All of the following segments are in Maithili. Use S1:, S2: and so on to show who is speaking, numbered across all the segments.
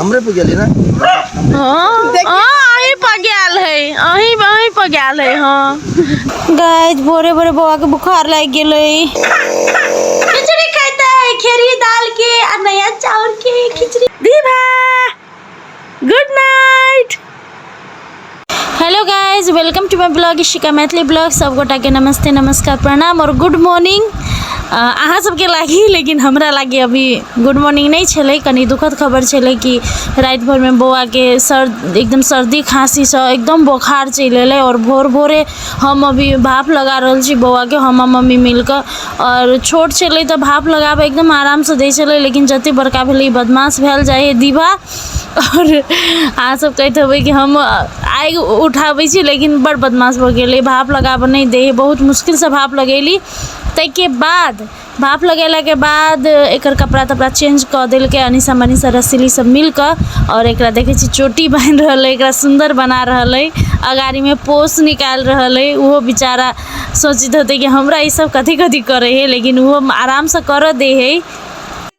S1: हमरे पे गेली ना
S2: हाँ अहीं पर गेल है अहीं अहीं पर गेल है हाँ गाइस भोरे भोरे बौआ के बुखार लग गेल है खिचड़ी खाते है खेरी दाल के और नया चावल के खिचड़ी दीभा good night hello guys welcome to my blog Ishika Maithili blog सब गोटा के नमस्ते नमस्कार प्रणाम और गुड मॉर्निंग अहाँ सबके लागी लेकिन हमरा लागी अभी गुड मॉर्निंग नहीं छे कनी दुखद खबर छे कि रात भर में बौआ के सर एकदम सर्दी खांसी से एकदम बोखार चल अल और भोर भोरे हम अभी भाप लगा रहा छी बौआ के हम मम्मी मिलकर और छोट छे तो भाप लगाबे एकदम आराम से दे छे लेकिन जते बड़का भेल बदमाश भेल जाए दीवा आओर अहाँ सब कहैत हेबै कि हम आगि उठाबै छी लेकिन बड़ बदमाश भऽ गेल ई भाप लगाबऽ नहि दै हइ बहुत मुश्किलसँ भाप लगेली तैके बाद भाप लगेलाके बाद एकर कपड़ा तपड़ा चेंज कऽ देलकै अनीशा मनीषा रसीली सब मिलकऽ आओर एकरा देखै छी चोटी बान्हि रहल अइ एकरा सुन्दर बना रहल अइ अगाड़ीमे पोस निकालि रहल अइ ओहो बेचारा सोचैत होतै कि हमरा ई सब कथी कथी करै हइ लेकिन ओहो आरामसँ करऽ दै हइ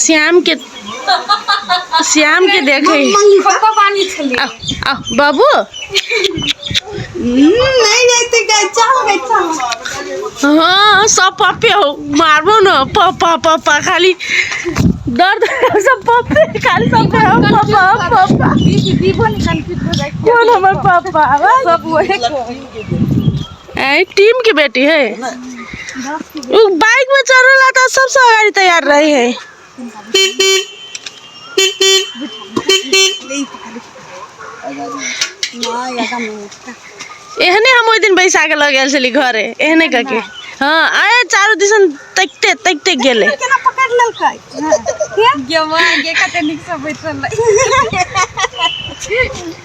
S3: श्याम के
S2: श्याम के देखे बाबू
S3: हाँ सब
S2: पप्पे हो मारबो न पप्पा पप्पा खाली दर्द सब पप्पे खाली सब पप्पा पप्पा
S3: कौन हमारे पापा
S2: सब वही
S3: ए टीम
S2: के बेटी है उ बाइक में चढ़ेला त सबसे अगाडि तैयार रही है एहने हम ओहि दिन बैसा के लग गेल छली घरे एहने कके हाँ आए चारू दिसन तकते तकते गेले केना पकड़ लेलकै
S3: गेमा गे कते नीक से बैठल रही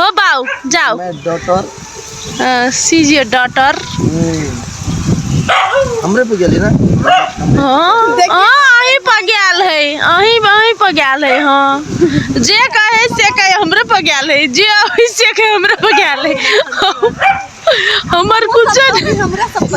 S2: हो बाऊ जाओ मैं डॉटर
S1: सीज योर
S2: डॉटर
S1: हमरे पे गेली ना
S2: हाँ अहीं पर गेल है अहीं अहीं पर गेल है हाँ जे कहे से कहे हमरे पर गेल है जे अभी से कहे हमरे पर गेल है हमर कुछ हमरा सब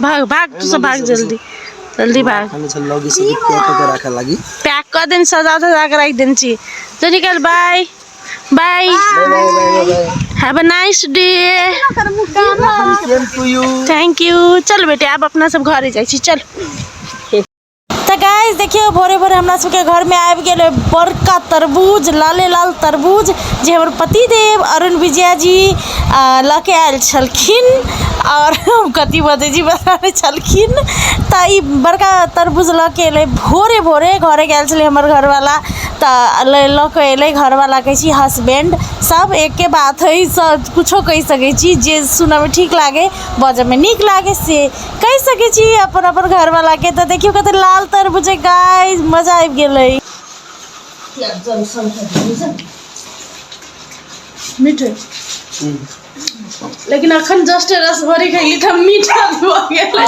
S2: भाग भाग तू सब भाग जल्दी जल्दी भाग हम चल लगी से
S1: पैक करके रखे लगी पैक कर दिन सजा सजा
S2: के रख दिन छी तो निकल bye bye
S1: have a nice
S2: day
S1: same to you thank you
S2: चल बेटे आप अपना सब घरे जाई छी चल तऽ गाइस देखियौ भोरे भोरे हमरा सबके घरमे आबि गेल बड़का तरबूज लाले लाल तरबूज जे हमर पतिदेव अरुण विजया जी लऽ के आयल छलखिन आओर हम कथी बजै छी पता नहि छलखिन तऽ ई बड़का तरबूज लऽ के एलै भोरे भोरे घरे गेल छलै हमर घरवला तऽ लऽ के एलै घरवला कहै छी हसबैंड सब एके बात हइ सब किछो कहि सकै छी जे सुनऽमे ठीक लागै बाजऽमे नीक लागै से कहि सके छी अपन अपन घर वाला के तो देखियो कते लाल तरबूज है गाइस मजा आबि गेले मीठ लेकिन अखन जस्ट रस भरी खैली त मीठा भ गेलै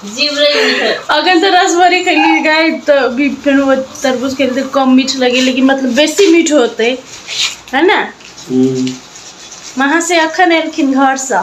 S2: जीव रही है अखन त रस भरी खैली गाय त भी फिर वो तरबूज के लिए कम मीठ लगे लेकिन मतलब बेसी मीठ होते है ना वहाँ से अखन एलखिन घर से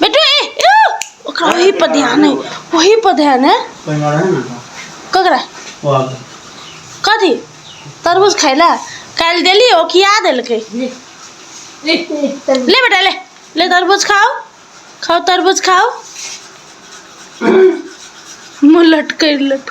S2: बेटू ए ए, ओकरा वही पर ध्यान है वही पर ध्यान है कोई मारा है ना ककरा वो आ गया। कथी तरबूज खैला काल्हि देली ओ खिया देलकै ले ले ले तर ले बेटा ले ले तरबूज खाओ खाओ तरबूज खाओ मुँह लटकै लट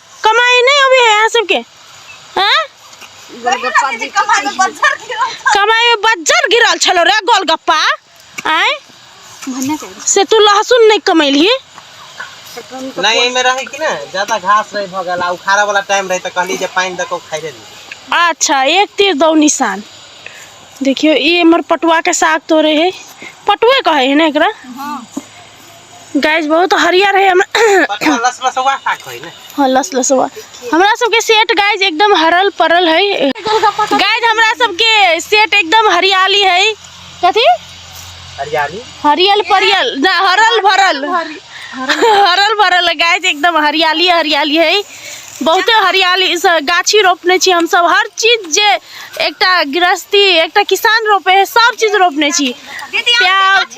S2: कमाई नहीं होवे है यहाँ सबके हाँ? कमाई में बज्जर गिरल छलो रे गोलगप्पा आए से तू लहसुन नहीं कमैली
S4: नहीं एहि में रहे कि ना ज्यादा घास रहे भऽ गेल आ उखाड़ा वाला टाइम रहे तऽ कहली जे पानि दऽ कऽ उखाड़ि देली अच्छा
S2: एक तीर दो निशान देखियो ये हमर पटुआ के साग तोड़े है पटुए कहे है ना एकरा गाइज बहुत हरियर है हम
S4: हाँ लस लसवा
S2: हमरा सबके सेट गाइज एकदम हरल परल है गाइज हमरा सबके सेट एकदम हरियाली है कथी
S4: हरियाली हरियल
S2: परियल ना हरल भरल हरल भरल है गाइज एकदम हरियाली हरियाली है बहुते हरियाली स- गाछी रोपने छी हम सब हर चीज जे एकटा गृहस्थी एकटा किसान रोपे है सब चीज रोपने छी प्याज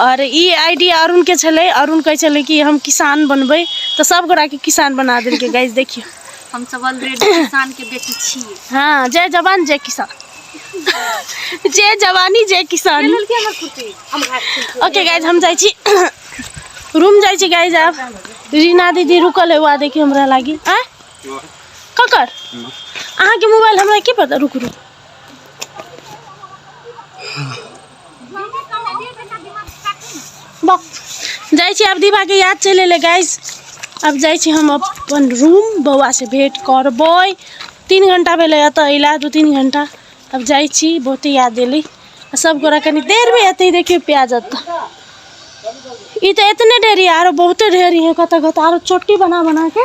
S2: आओर ई आइडिया अरुणके छलै अरुण कहै छलै कि हम किसान बनबै तऽ सब गोटाके किसान बना देलकै गाइज देखियौ हम सब ऑलरेडी
S3: किसानके बेटी छी हाँ जय जवान
S2: जय किसान जय जवानी जय किसान ओके गाइज हम जाइ छी रूम जाइ छी गाइज आब रीना दीदी रुकल है वहाँ देखियो हमरा लागी आ ककर अहाँके मोबाइल हमरा की पता रुक रुक जाइ छी आब दीवाके याद चलि एलै गाइस आब जाइ छी हम अपन रूम बौआसँ भेँट करबै तीन घन्टा भेलै एतऽ अइला दू तीन घन्टा आब जाइ छी बहुते याद एलै आ सब गोरा कनि देरमे एतै देखियौ प्याज एतऽ ई तऽ एतने ढेरी आरो बहुते ढेरी है कतऽ कतऽ आरो चोटी बना बनाके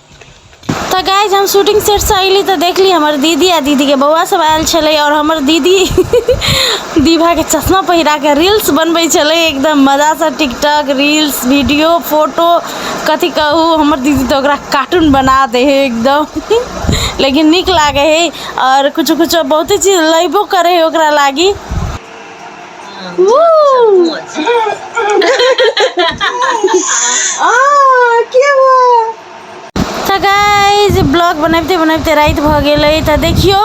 S2: तऽ गाइज हम शूटिंग सेटसँ अयली तऽ देखली हमर दीदी आ दीदीके बौआ सब आयल छलै आओर हमर दीदी दीभाके चश्मा पहिराके रील्स बनबै छलै एकदम मजासँ टिकटॉक रील्स वीडियो फोटो कथी कहू हमर दीदी तऽ ओकरा कार्टून बना दै है एकदम लेकिन नीक लागै है आओर किछु किछु बहुते चीज लैबो करै है ओकरा लागी Woo! तऽ गाइज ब्लॉग बनबिते बनबिते राति भऽ गेल अइ तऽ देखियौ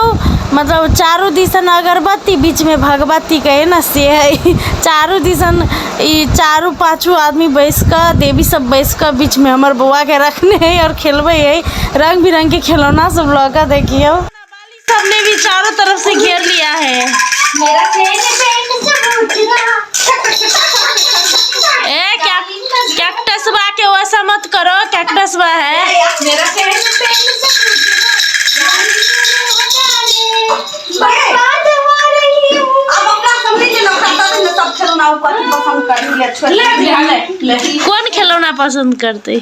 S2: मतलब चारू दिसन अगरबत्ती बीचमे भगवती कहै ने से हइ चारू दिसन ई चारू पाँचू आदमी बैस कऽ देवी सब बैस कऽ बीचमे हमर बौआके रखने हइ आओर खेलबै हइ रङ्ग बिरङ्गके खेलौना सब लऽ कऽ देखियौ सबने भी चारों तरफ से घेर लिया है मेरा ए क्या कैक्टस बा के वैसा मत करो कैक्टस बा है मेरा कौन खिलौना पसंद करते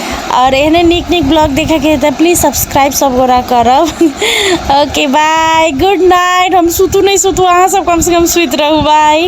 S2: आओर एहने नीक नीक ब्लॉग देखैके हइ तऽ प्लीज सब्सक्राइब सभगोरा करब ओके बाय गुड नाइट हम सुतू नहि सुतू अहाँसभ कमसँ कम सुति रहू बाय